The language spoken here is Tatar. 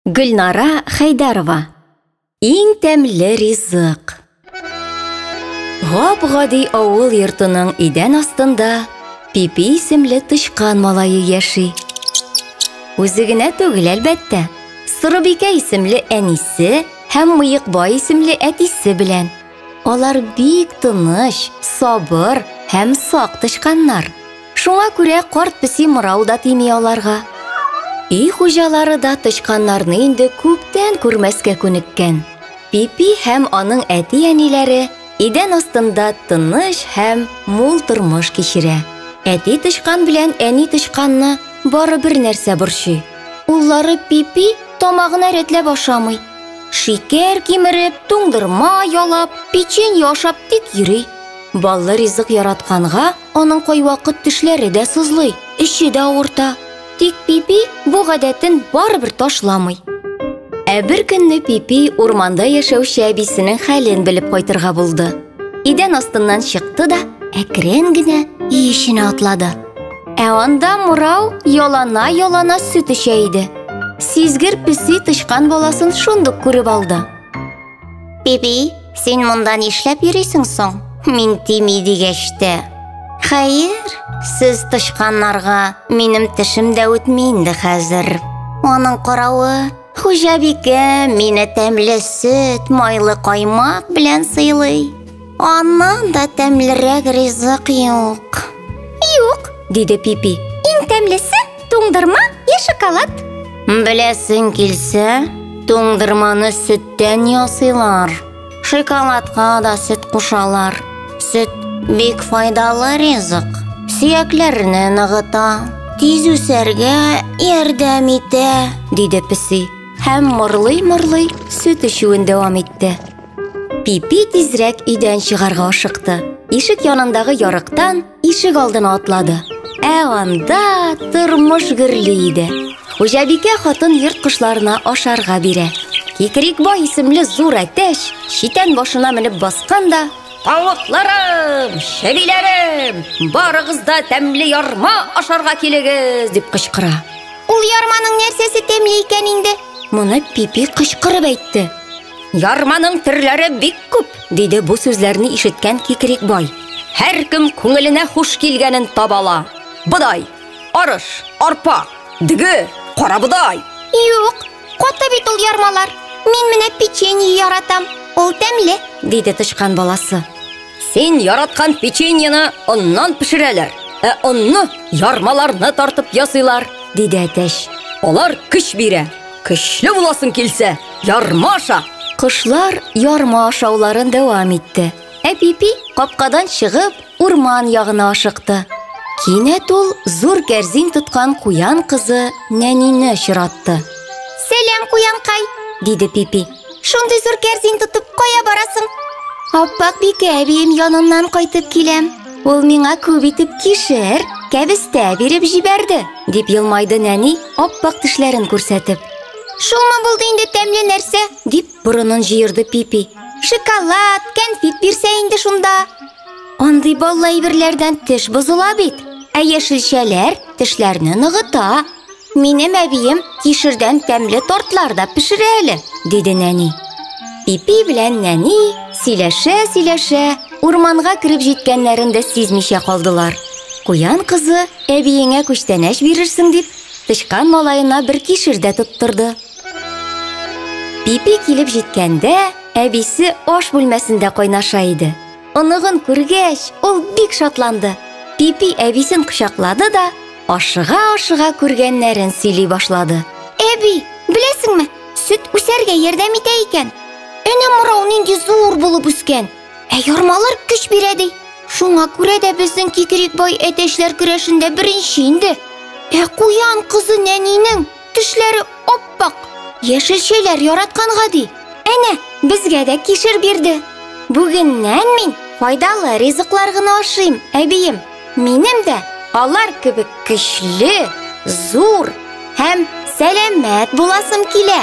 Гөлнара Хәйдәрова Иң тәмле ризык Гап-гади авыл йортының идән астында Пипи исемле тычкан малае яши. Үзе генә түгел, әлбәттә. Сорыбикә исемле әнисе һәм Мыекбай исемле әтисе белән. Алар бик тыныч, сабыр һәм сак тычканнар. Шуңа күрә карт песи мырау да тими аларга. Өй хуҗалары да тычканнарны инде күптән күрмәскә күнеккән. Пипи һәм аның әти-әниләре идән астында тыныч һәм мул тормыш кичерә. Әти тычкан белән әни тычканны бары бер нәрсә борчый. Уллары Пипи тамагына рәтләп ашамый. Шикәр кимереп, туңдырма ялап, печенье ашап тик йөри. Баллы ризык яратканга, Аның кайвакыт тешләре дә сызлый, эче дә авырта. Тик Пипи бу гадәтен барыбер ташламый. Ә бер көнне Пипи урманда яшәүче әбисенең хәлен белеп кайтырга булды. Идән астыннан чыкты да әкрен генә өй эченә атлады. Ә анда Мурау ялана-ялана сөт эчә иде. Сизгер песи тычкан баласын шундук күреп алды. Биби, син монда нишләп йөрисең соң? Мин тими дигәч тә. Хәер, сез тычканнарга минем тешем дә үтми инде хәзер. Аның каравы, хуҗабикә мине тәмле сөт, майлы каймак белән сыйлый. Аннан да тәмлерәк ризык юк. Юк, диде Пипи. Иң тәмлесе туңдырма я шоколад. Беләсең килсә, туңдырманы сөттән ясыйлар. Шоколадка да сөт кушалар. Сөт бик файдалы ризык. Сөякләрне ныгыта, тиз үсәргә ярдәм итә, диде песи. Һәм морлый-морлый сөт эчүен дәвам итте. Пипи тизрәк өйдән чыгарга ашыкты. Ишек янындагы ярыктан ишек алдына атлады. Ә анда тормыш гөрли иде. Хуҗабикә хатын йорт кошларына ашарга бирә. Кикрикбай исемле зур әтәч читән башына менеп баскан да Тавыкларым, чебиләрем, барыгыз да тәмле ярма ашарга килегез, дип кычкыра. Ул ярманың нәрсәсе тәмле икән инде? Моны Пипи кычкырып әйтте. Ярманың төрләре бик күп, диде бу сүзләрне ишеткән Кикрик бай. Һәркем күңеленә хуш килгәнен табала. Бодай, арыш, арпа, дөге, карабодай. Юк, каты бит ул ярмалар. Мин менә печенье яратам. Ул тәмле, диде тычкан баласы. Син яраткан печеньены оннан пешерәләр, ә онны ярмаларны тартып ясыйлар, диде әтәч. Алар көч бирә. Көчле буласың килсә, ярма аша. Кошлар ярма ашауларын дәвам итте. Әпипи капкадан чыгып, урман ягына ашыкты. Кинәт ул зур кәрзин тоткан куян кызы Нәнине очратты. Сәлам, куянкай, диде Пипи. Шундый зур кәрзин тотып кая барасың? Аппак бикә әбием яныннан кайтып киләм. Ул миңа күп итеп кишер, кәбестә биреп җибәрде, дип елмайды нәни, аппак тешләрен күрсәтеп. Шуңа булды инде тәмле нәрсә, дип борынын җыерды Пипи. Шоколад, кәнфит бирсә инде шунда. Андый баллы әйберләрдән теш бозыла бит. Ә яшелчәләр тешләрне ныгыта. Минем әбием кишердән тәмле тортлар да пешерә әле, диде нәни. Пипи белән нәни сөйләшә-сөйләшә урманга кереп җиткәннәрен дә сизмичә калдылар. Куян кызы әбиеңә күчтәнәч бирерсең дип, тычкан малаена бер кишер дә тоттырды. Пипи килеп җиткәндә, әбисе аш бүлмәсендә кайнаша иде. Оныгын күргәч, ул бик шатланды. Пипи әбисен кочаклады да, ашыга-ашыга күргәннәрен сөйли башлады. Әби, беләсеңме, сөт үсәргә ярдәм итә икән. Әнә мурау нинди зур булып үскән. Ә ярмалар көч бирә ди. Шуңа күрә дә безнең кикрик бай әтәчләр көрәшендә беренче инде. Ә куян кызы нәнинең Тешләре ап-ак, яшел чәйләр яраткан гади. Әнә, безгә дә кишер бирде. Бүгеннән мин файдалы ризыклар гына ашыйм, әбием. Минем дә алар кебек көчле, зур һәм сәламәт буласым килә.